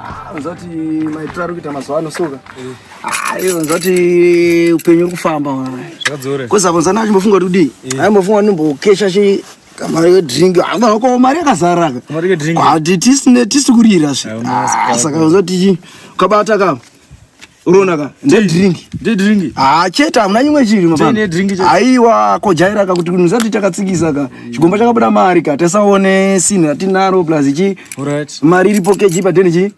Ah, unza kuti maitiro ari kuita mazuva ano soka ayi ah, unza kuti upenyu uri kufamba koza kunza na achimbofunga kuti kudii eh. aimbofunga kuti ndimbokesha chi kamari kedrink ko mari yakazara ka tisine tisi kurira svi ah, saka unza kuti ukabata kama unoona ka ndedrink ndedrink ah cheta hamuna nyimwe chiri mababa ne drink cheta aiwa ko jaira ka kuti kunzati takatsikisa ka chigomba chakabuda mari ka tasaone sin ratinaro plus chi alright mari iripo keji pa deni chi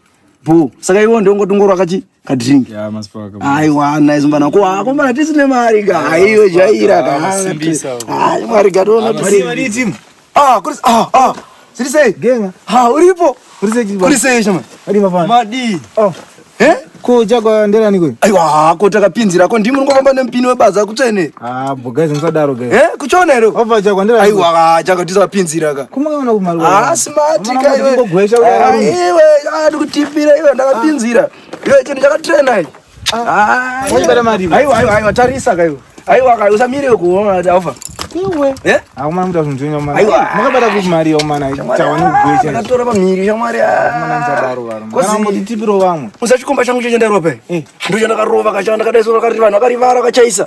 bo saka iwo ndongo tungoro akachi ka drink ya masipaka aiwa nice mbana ko hako mbana tisine mari ka aiwa jaira ka ah mari ka tona mari mari timu Ah, kuri ah ah. Siri sei? Genga. Ha, uripo. Kuri sei chibaba? Kuri sei shama? Adi mafana. Madi. Oh. Eh? Ko chakwa ndera niko? Aiwa, ko takapinzira ko ndimi ngofamba nempini webaza kutsvene. Ah, bo guys musadaro guys. Eh, kuchona hero. Ova chakwa ndera. Aiwa, chakwa tisapinzira ka. Kuma kana kumari. Ah, smart ka iwe. Ngogwesha uya. Ah, iwe, ah, ndikutipira iwe ndakapinzira. Ah. Iwe chini chakatrena iwe. aiwa tarisa kaiwa aiwa kai usamire kuona taofa iwe eh auma mda kunzwenya mwana aiwa makabata ku mari yo mwana tawana kugwecha akatora pa miri ya mwana mwana nzadaro varo mwana moti tipiro vamwe usachikomba changu cheche ndarope eh ndo chandakarova kachanda kadaisora kari vanhu akarivara kachaisa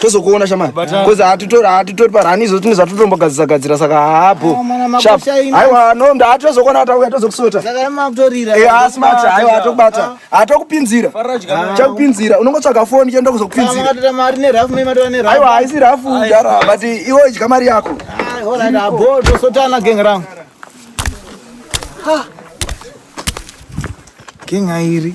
tozokuona shamari bcause hatitori hatitori parani izvo tine zvatotombogadzisa gadzira saka haabho aiwa no ndatozokuona watauya tozokusota eh, asi mati aiwa atokubata atokupinzira chakupinzira unongotsvaga foni chenda kuzokupinziraaiwa haisi rafu dara but iwo idya mari yako tosotana geng rangu geng airi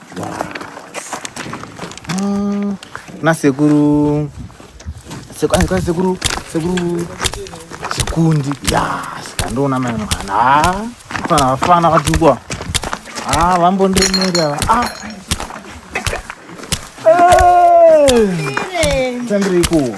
Mm, na sekuru sekuru sekuru sekuru sekundi ya sikandiona mai mwana ah, fana vafana vatukwa ah vambondiremera ah tandirikuwa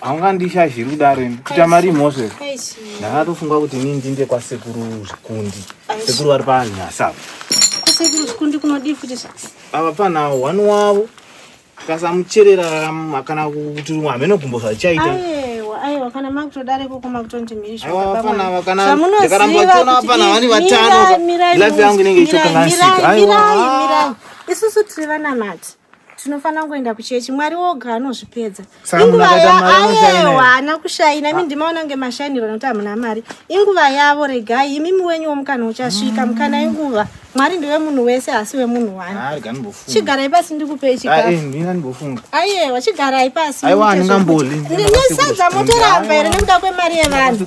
haungandishazhiri kudaro ini kuita mari mhosve ndakatofunga kuti ini ndinde kwasekuru zvikundi sekuru vari panyasa ava pana one wavo tikasamucherera kana kuti hameno gumbo zvachaita aiwa kana makutodare koko makutondi mhirizvamunozivaapana vani vatano life yangu inenge ichitokalansika isusu tiri vanamati tinofanira kungoenda kuchechi mwari woga anozvipedza inguva yaayewa haana kushaina imi ah. ndimaona kunge mashainiro nokuti hamuna mari inguva yavo regai imimi wenyu womukana uchasvika mm. mukana inguva mwari ndiwe munhu wese asi wemunhu wani chigarai pasi ndikupei chikaaiyewa chigarai pasi nesadza motoramba here nekuda kwemari yevanhu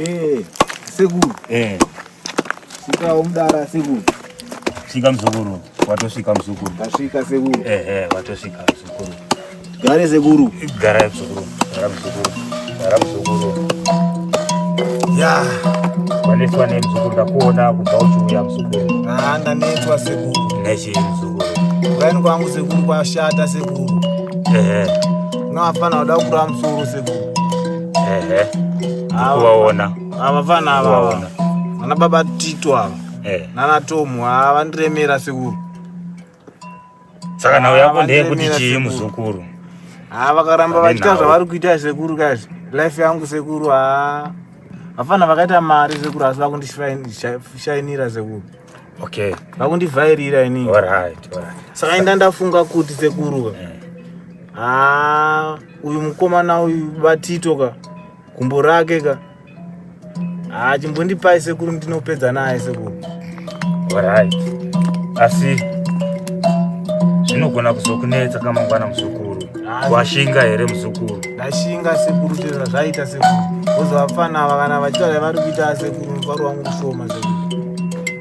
Eh, sekuru. Eh. Sika umdara sekuru. Sika mzukuru, watosvika mzukuru. Tasvika sekuru. Eh eh, watosvika mzukuru. Gare sekuru. Gara mzukuru. Gara mzukuru. Gara mzukuru. Ya. Wanetwa ne mzukuru ndakuona kubva uchiuya mzukuru. Ah, ndanetwa sekuru. Nechi mzukuru. Kwaini kwangu sekuru kwashata sekuru. Eh eh. No hapana wada kura msuru siku. Ehe. Kuwaona. Ava vana ava. Ana baba Tito ava. Eh. Nana Tomu ava ndiremera siku. Saka nawo yako ndeye kuti chii muzukuru? Ah vakaramba vachita zvavari kuita sekuru kazi. Life yangu sekuru ah. Hapana vakaita mari sekuru asi vakundishainira sekuru. okay vakundivhairira ini alright alright saka inda ndafunga kuti sekuruka eh. haa uyu mukomana uyu batito ka gumbo rake ka haa chimbondipai sekuru ndinopedza naye sekuru alright asi zvinogona kuzokunetsa kamangwana muzukuru washinga here muzukuru ndashinga sekuru chero zvazvaita sekuru vozo vapfana ava kana vachiita zvavari kuita sekuru mufaro wangu mushoma sekuru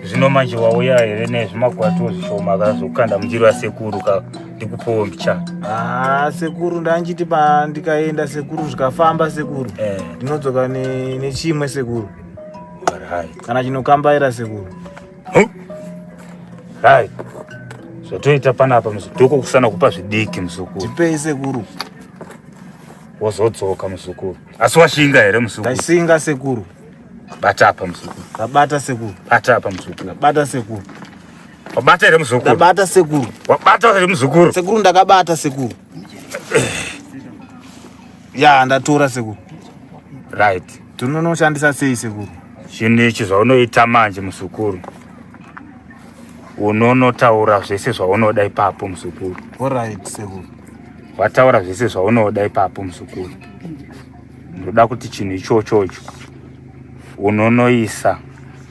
zvino manje wauya here nezvimakwatiwo zvishoma kazokukanda mundiro yasekuru ka ndikupowo mbicha haa ah, sekuru ndanchiti pandikaenda sekuru zvikafamba sekuru eh. ndinodzoka nechimwe sekuru kana chinokambaira sekuru Hai. Zvatoita panapa muzidoko kusana kupa zvidiki muzukuru. Tipei sekuru. Wozodzoka muzukuru. Asi washinga here muzukuru? Ndaisinga sekuru. Bata apa muzukuru. Ndabata sekuru. Bata apa muzukuru. Ndabata sekuru. Wabata here muzukuru? Ndabata sekuru. Wabata here muzukuru? Sekuru ndakabata sekuru. ya ndatora sekuru right tinonoshandisa sei sekuru zvinhu ichi zvaunoita manje muzukuru unonotaura zvese zvaunoda ipapo muzukuru orit sekuru wataura zvese zvaunoda ipapo muzukuru ndoda kuti chinhu ichochocho unonoisa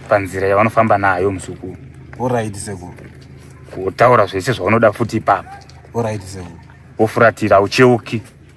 panzira yavanofamba nayo muzukuru orit sekuru wotaura zvese zvaunoda futi ipapo orit sekuru wofuratira ucheuki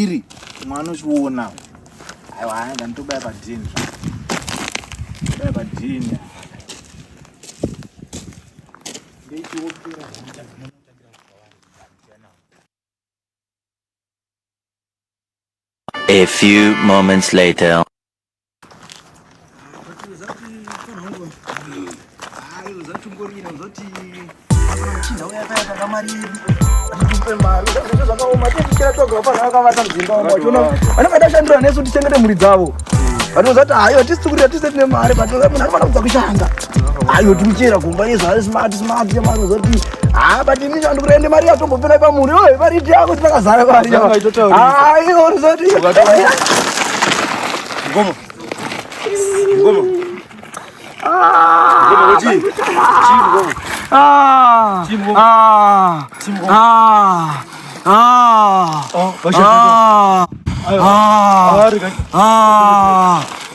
iri umwe anochiona aiwa aya ndanitobaya padhini baya padhini A few moments later. vanovaita shandira nesu tichengete mhuri dzavo vanozati hayo tisikurira tise tine mari but munhu anofanira kubva kushanda ayo timuchera kumba yezvare smart smart yamari uzoti haa but imi chandi kurende mari yatombopera pamuri oe mari iti yako tinakazara mari ayo urizoti ngomo ngomo Ah!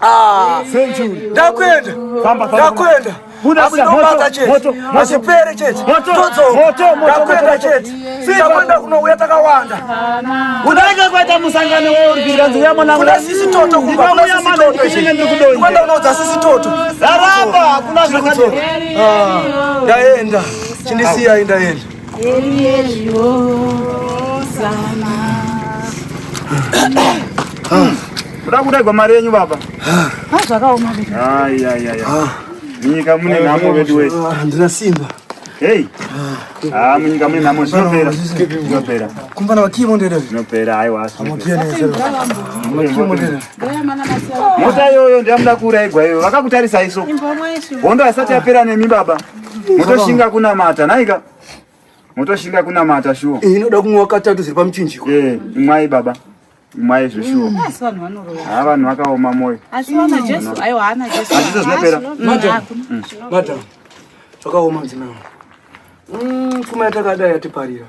Ah, ndakwenda ndakwenda asinobata chete asipere chete todzoka ndakwenda chete takwenda kunouya takawanda unaike kwaita musangano weurwiranziyamonakuna sisi toto kumba kuna sisi toto ikwenda unoudza sisi toto raramba hakuna zvakadero ah, ndaenda chindisiya indaenda kuda kudaigwa mari yenyu baba zvakaoma nyika mune nhamo vedu wese handina simba hei ha munyika mune nhamo zvinopera zvinopera kumbana vakimo ndere zvinopera haiwa mota iyoyo ndiyamuda kuuraigwa iyoyo vakakutarisai so hondo haisati yapera nemi baba motoshinga kunamata naika motoshinga kunamata shuwa eh, inoda kumwa katatu ziri pamuchinjiko eh, imwai baba imwai zveshuwa mm, haa vanhu vakaoma moyo hazvizo zvinopera mm. zvakaoma mzinaa mm, pfuma yatakadai yatiparira